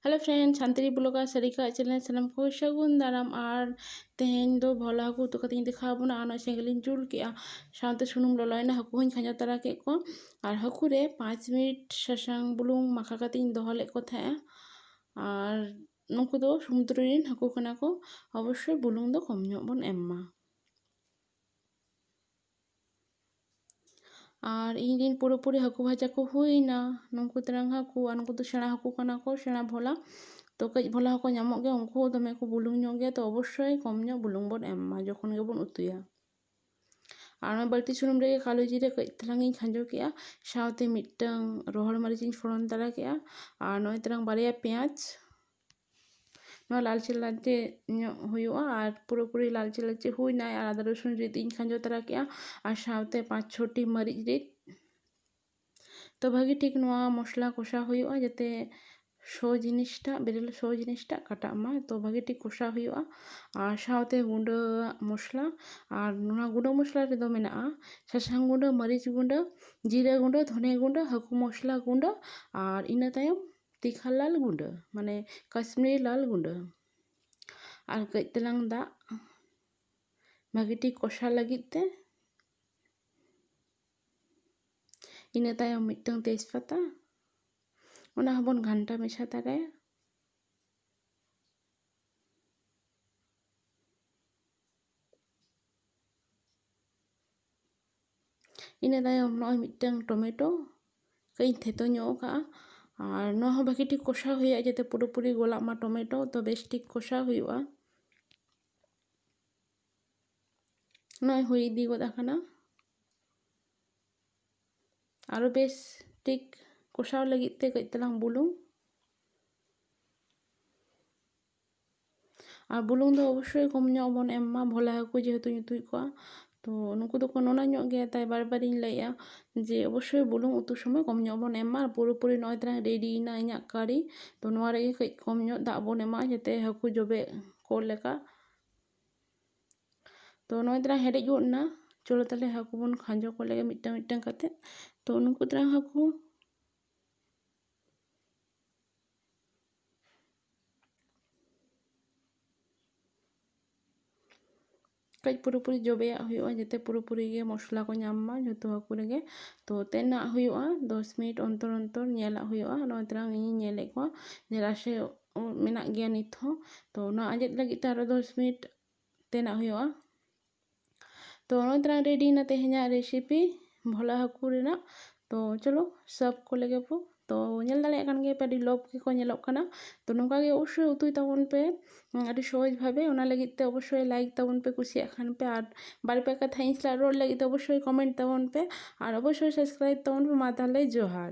hello friend Santali blogger Sarika ᱟᱜ channel ᱥᱟᱱᱟᱢ ᱠᱚ ᱥᱟᱹᱜᱩᱱ ᱫᱟᱨᱟᱢ ᱟᱨ ᱛᱮᱦᱮᱧ ᱫᱚ ᱵᱷᱚᱞᱟ ᱦᱟᱹᱠᱩ ᱩᱛᱩ ᱠᱟᱛᱮᱧ ᱫᱮᱠᱷᱟᱣ ᱵᱚᱱᱟ ᱟᱨ ᱱᱚᱜᱼᱚᱭ ᱥᱮᱸᱜᱮᱞ ᱤᱧ ᱡᱩᱞ ᱠᱮᱜᱼᱟ ᱥᱟᱶᱛᱮ ᱥᱩᱱᱩᱢ ᱞᱚᱞᱚᱭᱮᱱᱟ ᱦᱟᱹᱠᱩ ᱦᱚᱸᱧ ᱠᱷᱟᱸᱡᱚ ᱛᱟᱨᱟ ᱠᱮᱫ ᱠᱚᱣᱟ ᱟᱨ ᱦᱟᱹᱠᱩ ᱨᱮ ᱯᱟᱸᱪ ᱢᱤᱱᱤᱴ ᱥᱟᱥᱟᱝ ᱵᱩᱞᱩᱝ ᱢᱟᱠᱷᱟ ᱠᱟᱛᱮᱧ ᱫᱚᱦᱚ ᱞᱮᱫ ᱠᱚ ᱛᱟᱦᱮᱸᱜᱼᱟ ᱟᱨ ᱱᱩᱠᱩ ᱫᱚ ᱥᱚᱢᱩᱫᱨᱚ ᱨᱮᱱ ᱦᱟᱹᱠᱩ ᱠᱟᱱᱟ ᱠᱚ ᱚᱵᱚᱥᱥᱳᱭ ᱵᱩᱞᱩᱝ ᱫᱚ ᱠᱚᱢ ᱧᱚᱜ ᱵᱚᱱ ᱮᱢ ᱢᱟ ᱟᱨ ᱤᱧ ᱨᱮᱱ ᱯᱩᱨᱟᱹ ᱯᱩᱨᱤ ᱦᱟᱹᱠᱩ ᱵᱷᱟᱡᱟ ᱠᱚ ᱦᱩᱭᱮᱱᱟ ᱱᱩᱠᱩ ᱛᱮᱨᱟᱝ ᱦᱟᱹᱠᱩ ᱟᱨ ᱱᱩᱠᱩ ᱫᱚ ᱥᱮᱬᱟ ᱦᱟᱹᱠᱩ ᱠᱟᱱᱟ ᱠᱚ ᱥᱮᱬᱟ ᱵᱷᱚᱞᱟ ᱛᱚ ᱠᱟᱹᱡ ᱵᱷᱚᱞᱟ ᱦᱚᱸᱠᱚ ᱧᱟᱢᱚᱜ ᱜᱮᱭᱟ ᱩᱱᱠᱩ ᱦᱚᱸ ᱫᱚᱢᱮ ᱠᱚ ᱵᱩᱞᱩᱝ ᱧᱚᱜ ᱜᱮᱭᱟ ᱛᱚ ᱚᱵᱚᱥᱥᱳᱭ ᱠᱚᱢ ᱧᱚᱜ ᱵᱩᱞᱩᱝ ᱵᱚᱱ ᱮᱢ ᱢᱟ ᱡᱚᱠᱷᱚᱱ ᱜᱮᱵᱚᱱ ᱩᱛᱩᱭᱟ ᱟᱨ ᱚᱱᱟ ᱵᱟᱹᱲᱛᱤ ᱥᱩᱱᱩᱢ ᱨᱮᱜᱮ ᱠᱟᱞᱳ ᱡᱤᱨᱟᱹ ᱠᱟᱹᱡ ᱛᱮᱞᱟᱝ ᱤᱧ ᱠᱷᱟᱸᱡᱚ ᱠᱮᱫᱼᱟ ᱥᱟᱶᱛᱮ ᱢᱤᱫᱴᱟᱹᱝ ᱨᱚᱦᱚᱲ ᱢᱟᱹᱨᱤᱪᱤᱧ ᱯᱷᱚᱲᱚᱱ ᱛᱟᱨᱟ ᱠᱮᱫᱼᱟ ᱟᱨ ᱱᱚᱜᱼᱚᱭ ᱛᱟᱞᱟᱝ ᱵᱟᱨᱭᱟ ᱯᱮᱸᱭᱟᱡᱽ ᱱᱚᱣᱟ ᱞᱟᱞᱪᱮ ᱞᱟᱞᱪᱮ ᱧᱚᱜ ᱦᱩᱭᱩᱜᱼᱟ ᱟᱨ ᱯᱩᱨᱟᱹ ᱯᱩᱨᱤ ᱞᱟᱞᱪᱮ ᱞᱟᱞᱪᱮ ᱦᱩᱭᱱᱟ ᱟᱨ ᱟᱫᱟ ᱨᱟᱹᱥᱩᱱ ᱨᱤᱫ ᱤᱧ ᱠᱷᱟᱸᱡᱚ ᱛᱚᱨᱟ ᱠᱮᱫᱼᱟ ᱟᱨ ᱥᱟᱶᱛᱮ ᱯᱟᱸᱪ ᱪᱷᱚᱴᱤ ᱢᱟᱹᱨᱤᱪ ᱨᱤᱫ ᱛᱚ ᱵᱷᱟᱹᱜᱤ ᱴᱷᱤᱠ ᱱᱚᱣᱟ ᱢᱚᱥᱞᱟ ᱠᱚᱥᱟᱣ ᱦᱩᱭᱩᱜᱼᱟ ᱡᱟᱛᱮ ᱥᱚ ᱡᱤᱱᱤᱥᱴᱟᱜ ᱵᱮᱨᱮᱞ ᱥᱚ ᱡᱤᱱᱤᱥᱴᱟᱜ ᱠᱟᱴᱟᱜ ᱢᱟ ᱛᱚ ᱵᱷᱟᱹᱜᱤ ᱴᱷᱤᱠ ᱠᱚᱥᱟᱣ ᱦᱩᱭᱩᱜᱼᱟ ᱟᱨ ᱥᱟᱶᱛᱮ ᱜᱩᱸᱰᱟᱹᱣᱟᱜ ᱢᱚᱥᱞᱟ ᱟᱨ ᱱᱚᱣᱟ ᱜᱩᱸᱰᱟᱹ ᱢᱚᱥᱞᱟ ᱨᱮᱫᱚ ᱢᱮᱱᱟᱜᱼᱟ ᱥᱟᱥᱟᱝ ᱜᱩᱸᱰᱟᱹ ᱢᱟᱹᱨᱤᱪ ᱜᱩᱸᱰᱟᱹ ᱡᱤᱨᱟᱹ ᱜᱩᱸᱰᱟᱹ ᱫᱷᱚᱱᱮ ᱜᱩᱸᱰᱟᱹ ᱦᱟᱹᱠᱩ ᱢᱚᱥᱞᱟ ᱜᱩᱸᱰᱟᱹ ᱟᱨ ᱤᱱᱟᱹ ᱛᱟᱭᱚᱢ ᱫᱤᱜᱷᱟ ᱞᱟᱞ ᱜᱩᱰᱟᱹ ᱢᱟᱱᱮ ᱠᱟᱥᱢᱤᱨᱤ ᱞᱟᱞ ᱜᱩᱰᱟᱹ ᱟᱨ ᱠᱟᱹᱡ ᱛᱮᱞᱟᱝ ᱫᱟᱜ ᱵᱷᱟᱹᱜᱤ ᱴᱷᱤᱠ ᱠᱚᱥᱟᱣ ᱞᱟᱹᱜᱤᱫ ᱛᱮ ᱤᱱᱟᱹ ᱛᱟᱭᱚᱢ ᱢᱤᱫᱴᱟᱹᱝ ᱛᱮᱡᱽ ᱯᱟᱛᱟ ᱚᱱᱟ ᱦᱚᱸᱵᱚᱱ ᱜᱷᱟᱱᱴᱟ ᱢᱮᱥᱟ ᱛᱟᱨᱟᱭᱟ ᱤᱱᱟᱹ ᱛᱟᱭᱚᱢ ᱱᱚᱜᱼᱚᱭ ᱢᱤᱫᱴᱟᱹᱝ ᱴᱚᱢᱮᱴᱳ ᱠᱟᱹᱡ ᱤᱧ ᱛᱷᱮᱛᱚ ᱧᱚᱜ ᱟᱠᱟᱫᱼᱟ ᱟᱨ ᱱᱚᱣᱟ ᱦᱚᱸ ᱵᱷᱟᱹᱜᱤ ᱴᱷᱤᱠ ᱠᱚᱥᱟᱣ ᱦᱩᱭᱩᱜᱼᱟ ᱡᱟᱛᱮ ᱯᱩᱨᱟᱹ ᱯᱩᱨᱤ ᱜᱚᱞᱟᱜ ᱢᱟ ᱴᱚᱢᱮᱴᱳ ᱛᱚ ᱵᱮᱥ ᱴᱷᱤᱠ ᱠᱚᱥᱟᱣ ᱦᱩᱭᱩᱜᱼᱟ ᱱᱚᱜᱼᱚᱭ ᱦᱩᱭ ᱤᱫᱤ ᱜᱚᱫ ᱟᱠᱟᱱᱟ ᱟᱨᱚ ᱵᱮᱥ ᱴᱷᱤᱠ ᱠᱚᱥᱟᱣ ᱞᱟᱹᱜᱤᱫ ᱛᱮ ᱠᱟᱹᱡ ᱛᱟᱞᱟᱝ ᱵᱩᱞᱩᱝ ᱟᱨ ᱵᱩᱞᱩᱝ ᱫᱚ ᱚᱵᱚᱥᱥᱳᱭ ᱠᱚᱢ ᱧᱚᱜ ᱵᱚᱱ ᱮᱢ ᱢᱟ ᱵᱷᱚᱞᱟ ᱦᱟᱹᱠᱩ ᱡᱮᱦᱮᱛᱩ ᱧᱩᱛᱩᱡ ᱠᱚᱜᱼᱟ ᱛᱚ ᱱᱩᱠᱩ ᱫᱚᱠᱚ ᱱᱚᱱᱚ ᱧᱚᱜ ᱜᱮᱭᱟ ᱛᱟᱭ ᱵᱟᱨ ᱵᱟᱨᱤᱧ ᱞᱟᱹᱭᱮᱫᱼᱟ ᱡᱮ ᱚᱵᱚᱥᱥᱳᱭ ᱵᱩᱞᱩᱝ ᱩᱛᱩ ᱥᱚᱢᱚᱭ ᱠᱚᱢ ᱧᱚᱜ ᱵᱚᱱ ᱮᱢ ᱢᱟ ᱟᱨ ᱯᱩᱨᱟᱹᱯᱩᱨᱤ ᱱᱚᱜᱼᱚᱭ ᱛᱟᱞᱟᱝ ᱨᱮᱰᱤᱭᱮᱱᱟ ᱤᱧᱟᱹᱜ ᱠᱟᱨᱤ ᱛᱚ ᱱᱚᱣᱟ ᱨᱮᱜᱮ ᱠᱟᱹᱡ ᱠᱚᱢ ᱧᱚᱜ ᱫᱟᱜ ᱵᱚᱱ ᱮᱢᱟᱜᱼᱟ ᱡᱟᱛᱮ ᱦᱟᱹᱠᱩ ᱡᱚᱵᱮ ᱠᱚᱜ ᱞᱮᱠᱟ ᱛᱚ ᱱᱚᱜᱼᱚᱭ ᱛᱟᱞᱟᱝ ᱦᱮᱰᱮᱡ ᱜᱚᱫ ᱮᱱᱟ ᱪᱚᱞᱚ ᱛᱟᱦᱚᱞᱮ ᱦᱟᱹᱠᱩ ᱵᱚᱱ ᱠᱷᱟᱸᱡᱚ ᱠᱚ ᱞᱮᱜᱮ ᱢᱤᱫᱴᱟᱝ ᱢᱤᱫᱴᱟᱝ ᱠᱟᱛᱮ ᱛᱚ ᱱᱩᱠᱩ ᱛᱟᱞᱟᱝ ᱦᱟᱹᱠᱩ ᱠᱟᱹᱡ ᱯᱩᱨᱟᱹᱯᱩᱨᱤ ᱡᱚᱵᱮᱭᱟᱜ ᱦᱩᱭᱩᱜᱼᱟ ᱡᱟᱛᱮ ᱯᱩᱨᱟᱹᱯᱩᱨᱤ ᱜᱮ ᱢᱚᱥᱞᱟ ᱠᱚ ᱧᱟᱢ ᱢᱟ ᱡᱚᱛᱚ ᱦᱟᱹᱠᱩ ᱨᱮᱜᱮ ᱛᱚ ᱛᱮᱱᱟᱜ ᱦᱩᱭᱩᱜᱼᱟ ᱫᱚᱥ ᱢᱤᱱᱤᱴ ᱚᱱᱛᱚᱨ ᱚᱱᱛᱚᱨ ᱧᱮᱞᱟᱜ ᱦᱩᱭᱩᱜᱼᱟ ᱱᱚᱜᱼᱚᱭ ᱛᱚᱨᱟᱝ ᱤᱧᱤᱧ ᱧᱮᱞᱮᱫ ᱠᱚᱣᱟ ᱡᱮ ᱨᱟᱥᱮ ᱢᱮᱱᱟᱜ ᱜᱮᱭᱟ ᱱᱤᱛ ᱦᱚᱸ ᱛᱚ ᱚᱱᱟ ᱟᱸᱡᱮᱫ ᱞᱟᱹᱜᱤᱫ ᱛᱮ ᱟᱨᱚ ᱫᱚᱥ ᱢᱤᱱᱤᱴ ᱛᱮᱱᱟᱜ ᱦᱩᱭᱩᱜᱼᱟ ᱛᱚ ᱱᱚᱜᱼᱚᱭ ᱛᱟᱞᱟᱝ ᱨᱮᱰᱤᱭᱮᱱᱟ ᱛᱮᱦᱮᱧᱟᱜ ᱨᱮᱥᱤᱯᱤ ᱵᱷᱚᱞᱟ ᱦᱟᱹᱠᱩ ᱨᱮᱱᱟᱜ ᱛᱚ ᱪᱚᱞᱚ ᱥᱟᱵ ᱠᱚ ᱞᱮᱜᱮ ᱵᱚ ᱛᱚ ᱧᱮᱞ ᱫᱟᱲᱮᱭᱟᱜ ᱠᱟᱱ ᱜᱮᱭᱟ ᱯᱮ ᱟᱹᱰᱤ ᱞᱚᱵᱽ ᱜᱮᱠᱚ ᱧᱮᱞᱚᱜ ᱠᱟᱱᱟ ᱛᱚ ᱱᱚᱝᱠᱟ ᱜᱮ ᱚᱵᱚᱥᱥᱳᱭ ᱩᱛᱩᱭ ᱛᱟᱵᱚᱱ ᱯᱮ ᱟᱹᱰᱤ ᱥᱚᱦᱚᱡᱽ ᱵᱷᱟᱵᱮ ᱚᱱᱟ ᱞᱟᱹᱜᱤᱫ ᱛᱮ ᱚᱵᱚᱥᱥᱳᱭ ᱞᱟᱭᱤᱠ ᱛᱟᱵᱚᱱ ᱯᱮ ᱠᱩᱥᱤᱭᱟᱜ ᱠᱷᱟᱱ ᱯᱮ ᱟᱨ ᱵᱟᱨ ᱯᱮ ᱠᱟᱛᱷᱟ ᱤᱧ ᱥᱟᱞᱟᱜ ᱨᱚᱲ ᱞᱟᱹᱜᱤᱫ ᱛᱮ ᱚᱵᱚᱥᱥᱳᱭ ᱠᱚᱢᱮᱱᱴ ᱛᱟᱵᱚᱱ ᱯᱮ ᱟᱨ ᱚᱵᱚᱥᱥᱳᱭ ᱥᱟᱵᱥᱠᱨᱟᱭᱤᱵᱽ ᱛᱟᱵᱚᱱ ᱯᱮ ᱢᱟ ᱛᱟᱦᱚᱞᱮ ᱡᱚᱦᱟᱨ